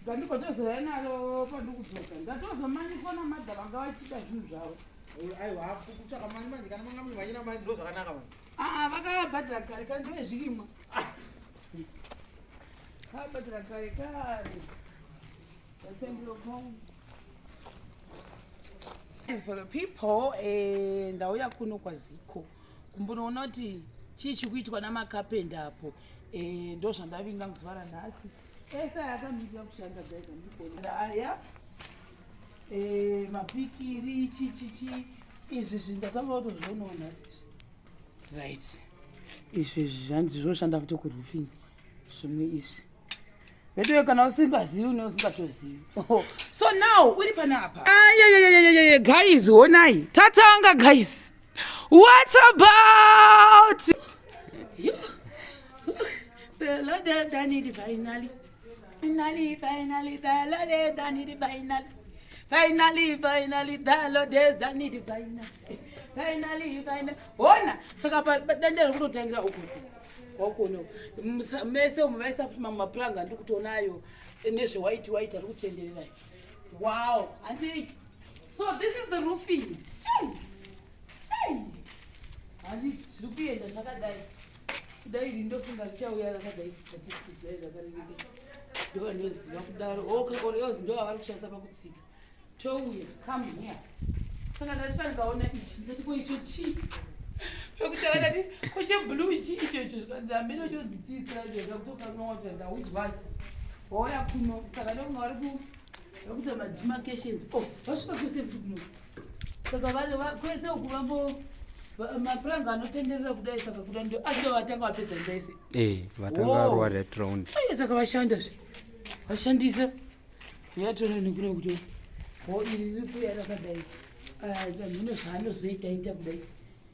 ndandigotozoya naro pandikudzoka ndatozomanyiswa namadha vanga vachida zvinhu zvavo aa vakavabhadhira kare kare ndove zvirimwa vakabhadhira kare kare vatendrokong as for the people eh, ndauya kuno kwaziko kumbonoona kuti chii chiri kuitwa namakapenda apo Eh, ndo zvandavinga muzuva ranhasi ese ayakamira kushanda guys andikona aya eh, mapikiri chichichi izvi zvinhu ndatanga kutozvionawo nhasi izvi right izvi izvi zvanzi zvoshanda futi kuroofing zvimwe izvi veduwe kana usingazivi une usingatozivi oh, so now uri pane apa ayayayayayaya guys honai tatanga guys What about? You, the Lord done it finally. Finally, finally, the Lord done it finally. Finally, finally, the Lord has done it finally. Finally, finally. Ona, saka dande rekutotangira uku. Wakuona. Mese umu vaisa futi mamwe mapuranga ndiri kutoona ayo nezve white white ari kutenderera. Wow, hanti So this is the roofing. Shame. Shame. Handi zviri kuenda zvakadai. Kudai rindofunga richauya rakadai zvatisizvai zvakarereka. Ndovanoziva kudaro. Okay, oh, or else ndovavari kushandisa pakutsika. Touya, come here. Saka ndachita ndikaona ichi ndati ko icho chii? Pekuti akadati ko cheblue chii icho icho zvikanzi ameno chodzichiisira zvoda kutokanwa kuti ndaudzwazi. Wauya kuno saka ndokunga vari ku vakuita mademarcations o oh, vasvika kwese kuti kuno saka kwese uku vambo mapuranga anotenderera kudai saka kuda ndo acho vatanga vapedza ndaise eh, vatanga varowa that round aye saka vashanda zve vashandisa yatona nekune kuti ho iri riri kuya rakadai ah, mune zvaanozoita ita kudai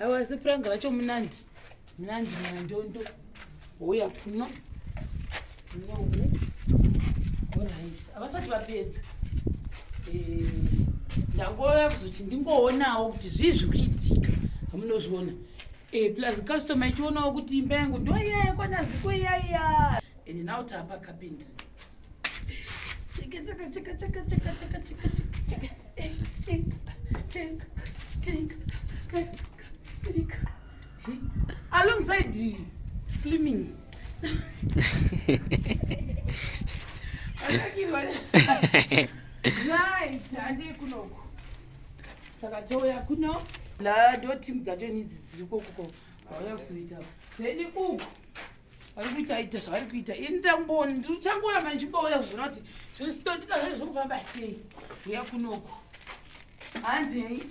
Awa asi prank racho munandi. Munandi mandondo. Uya kuno. No. Alright. Avasati vapedza. Eh, ndangouya kuzoti ndingoonawo kuti zvii zviri kuitika. Hamunozviona. Eh, plus customer ichionawo kuti imba yangu ndoiya yakwana ziko iya iya. And now tapa kapinda. alongside slimming nice handei kunoku saka touya kuno la ndo team dzacho nidzi dziri kokuko vauya kuzoita then uku vari kuita ita zvavari kuita ini ndamboni ndichangorambe ndichibouya kuzvona kuti zviri sitondida zvai zviri kufamba sei uya kunoko hanzei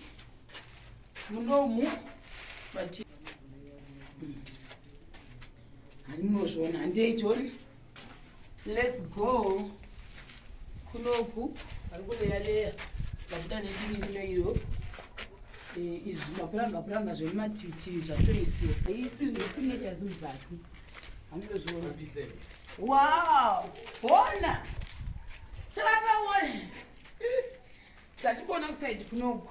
munomu but handinozviona handei tione Let's go. Kunoku ari kuleya leya vakuda nechiri kuno iyo eh, izvi mapuranga puranga zvemumatiti zvatoisiwa isi ndipinge chazi muzasi handizozviona wow hona chakataona Satikuona kusaidi kunoku.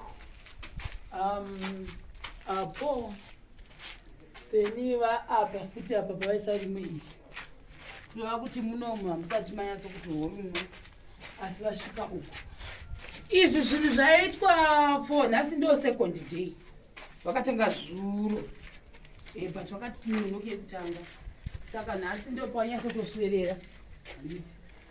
Um, apo peni vaapa futi apa pavaisa rimwe iri kureva kuti munomu hamusati manyatso kuti horuno asi vasvika uku izvi zvinhu zvaitwa for nhasi ndo second day vakatanga zuro eh, but vakati tinonoke kutanga saka nhasi ndo panyatso toswerera handiti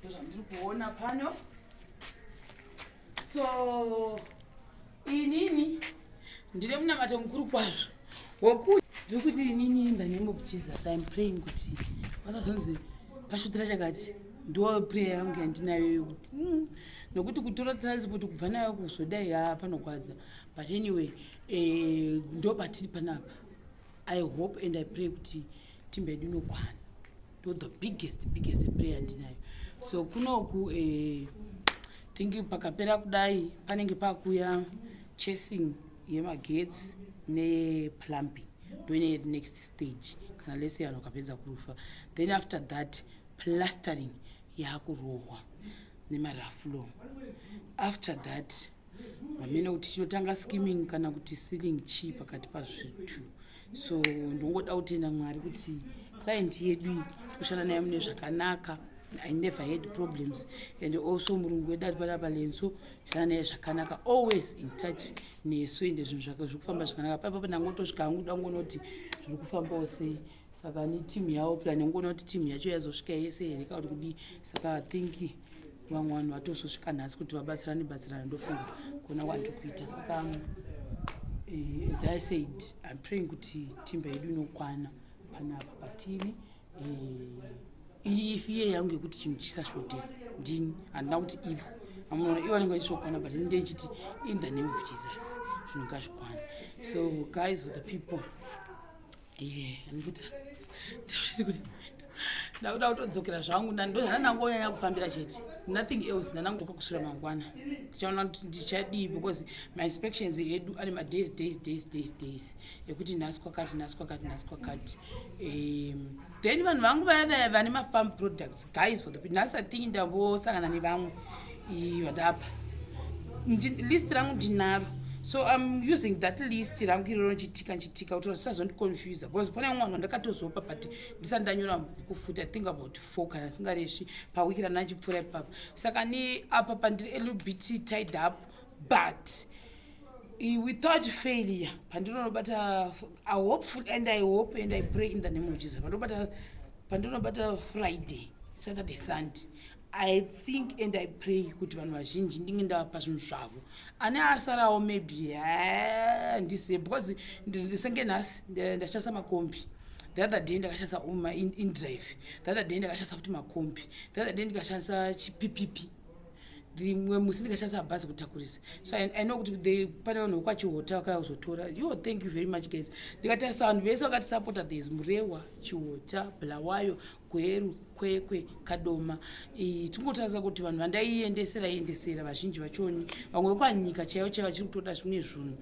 ndozvandiri kuona pano so inini ndine munamato mukuru kwazvo wokuti ndiri kuti inini in the name of jesus iam praying kuti vasazonzi pasvutira chakati ndo prayer yangu yandinayo yokuti mm, nokuti kutora transport kubva nayo kuzodai ha panogwadza but anyway eh, ndo patiri panapa i hope and i pray kuti timbedu inokwana ndo the biggest biggest prayer ndinayo so kunoku eh, thinki pakapera kudai panenge pakuya chasing yemagetsi neplumbing ndoine next stage kana lese vanhu vakapedza kurufa then after that plastering yaakurohwa nemaraflow after that hamene kuti chinotanga skimming kana kuti sealing chii pakati pazvitu so ndongoda kutenda mwari kuti client yedu iyi tikushanda naye mune zvakanaka i never had problems and also murungu wedu ari panapa lenso shana naye zvakanaka always in touch nesu ende zvinhu zvake zviri kufamba zvakanaka paipapo ndangotosvika hangu kuda kungoona kuti zviri kufambawo sei saka netimu yavo plan ndangoona kuti timu yacho yazosvika yese here ka kuti kudii saka thinki vamwe vanhu vatozosvika nhasi kuti vabatsirane batsirana ndofunga kuona wati kuita saka eh, as i said im praying kuti timba yedu inokwana panapa patiri eh, iyi ifi iye yangu yekuti chinhu chisasvotera ndini handina kuti ivo amunoona ivo vanenge vachisvokwana but ini ndeichiti in the name of jesus zvinhu ngazvikwana so guys with the people ndakuda kutodzokera zvangu ndanangonyanya kufambira chete nothing else ndanangoka kusura mangwana ndichaona kuti ndichadii because mainspections edu ane madays days days days days ekuti nhasi kwakati nhasi kwakati nhasi kwakati then vanhu vangu vaya vaya vane mafarm products guys for the people nhasi athingi ndambosangana nevamwe vandapa list rangu ndinaro so im using that list rangu iroro ndichitika ndichitika kuti zvisazondiconfusa because pane mumwe vanhu vandakatozopa but ndisati ndanyora bhuku futi i think about four kana singaresvi pawiki rana ndichipfuura ipapa saka ni apa pandiri a little bit tied up but without failure pandinonobata i hopeful and i hope and i pray in the name of jesus pandinobata pandinobata friday saturday sunday i think and i pray kuti vanhu vazhinji ndinge ndavapa zvinhu zvavo ane asarawo maybe handise because ndisenge nhasi ndachasa makombi the other day ndakashandisa uma indrive the other day ndakashandisa futi makombi the other day ndikashandisa chipipipi rimwe musi ndikashandisa bhazi kutakurisa so i know kuti the pane vanhu vokwachihota vakaya kuzotora yo thank you very much guys ndikatarisa vanhu vese vakatisapota thereis murewa chihota bulawayo gweru kwekwe kadoma tingotarisa kuti vanhu vandaiendesera iendesera vazhinji vachoni vamwe vekwanyika chaivo chaivo vachiri kutoda zvimwe zvunhu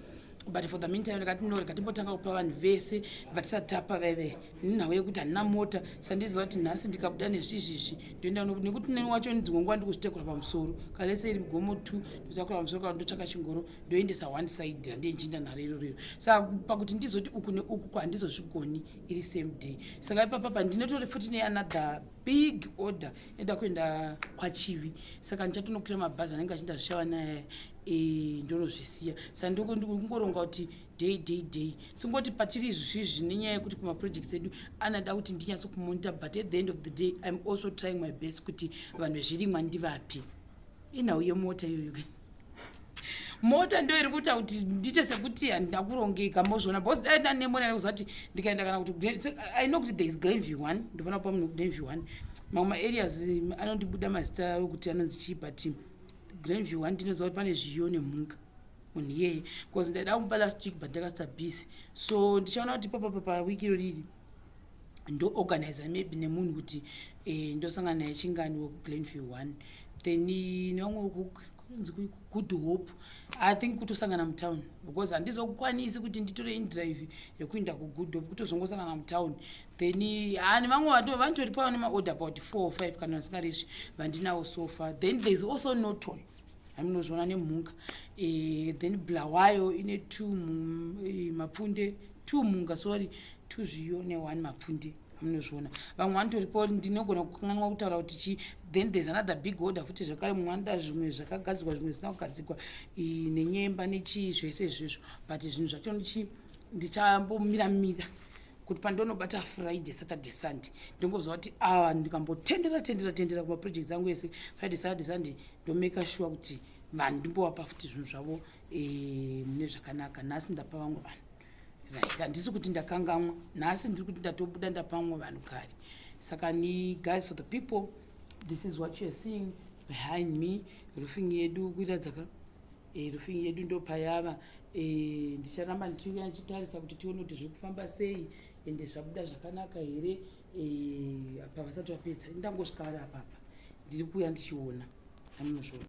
but for the meantime ndikati no ndikatimbotanga kupa vanhu vese vatisati tapa vaive nhau yekuti handina mota sandiziva kuti nhasi ndikabuda nezvizvizvi ndoenda nekuti neni wacho dzimwe nguva ndikuzitekura pamusoro kalese iri mugomo two ndotakura pamusoro kava ndotsvaka chingoro ndoendesa one side randiye ndichinda nharo iro riro saka pakuti ndizoti uku neuku kwandizozvigoni iri same day saka ipapa pandinotori futi neanother big order enda kuenda kwachivi saka ndichatonokwira mabhazi anenge achindazvishava naye eh, ndonozvisiya saka ndokungoronga kuti day day day singoti patiri izvizvi nenyaya yekuti kumaprojects edu anada kuti ndinyatso kumonita but at the end of the day im also trying my best kuti vanhu vezvirimwa ndivapi inhau yemota iyoyo mota ndo iri kuita kuti ndiite sekuti handina kurongeka mozviona bcause dai ndanemona nekuziva kuti ndikaenda kana kuti i know kuti there is glen view one ndofana kupa munhu glen view one mamwe maareas mm, anondibuda mazita okuti anonzi chii but glen view one ndinoziva kuti pane zviyo nemhunga munhu iyeye bcause ndaida kumupa last week but ndakasita busy so ndichaona kuti papapa pawiki iro riri ndoorganiza maybe nemunhu kuti eh, ndosangana naye chingani wekuglenview one then nevamwe kunzi good hope i think kutosangana mutown because handizokwanisi kuti nditore indrive yekuinda kugood hope kutozongosangana mutown then hani ah, vamwe vato vanotori pava nemaorder about four or five kana vasingaresvi vandinawo sofa then thereis also noton hamunozviona nemhunga e, then bulawayo ine two eh, mapfunde two mhunga sorry two zviyo neone mapfunde munozviona vamwe vanotoripo ndinogona kukanganwa kutaura kuti chii then there's another big order futi zvekare mumwe anoda zvimwe zvakagadzirwa zvimwe zvisina kugadzirwa nenyemba nechii zvese izvezvo but zvinhu zvacho ndichi ndichambomira mira kuti pandonobata friday saturday sunday ndongoziva kuti awa ah, ndikambotendera tendera tendera kumaprojects angu ese friday saturday sunday ndomaker sure kuti vanhu ndimbovapa futi zvinhu zvavo eh, mune zvakanaka nhasi ndapa vamwe vanhu right handisi kuti ndakangamwa nhasi ndiri kuti ndatobuda ndapa vamwe vanhu kare saka ni guys for the people this is what youare seeing behind me roofing yedu kuita dzaka e, rufing yedu ndopayava e, eh, ndicharamba ndichiuya ndichitarisa kuti tione kuti zviri kufamba sei ende eh, zvabuda zvakanaka here e, apa vasati vapedza ndangosvika vari apapa ndiri kuuya ndichiona amunozviona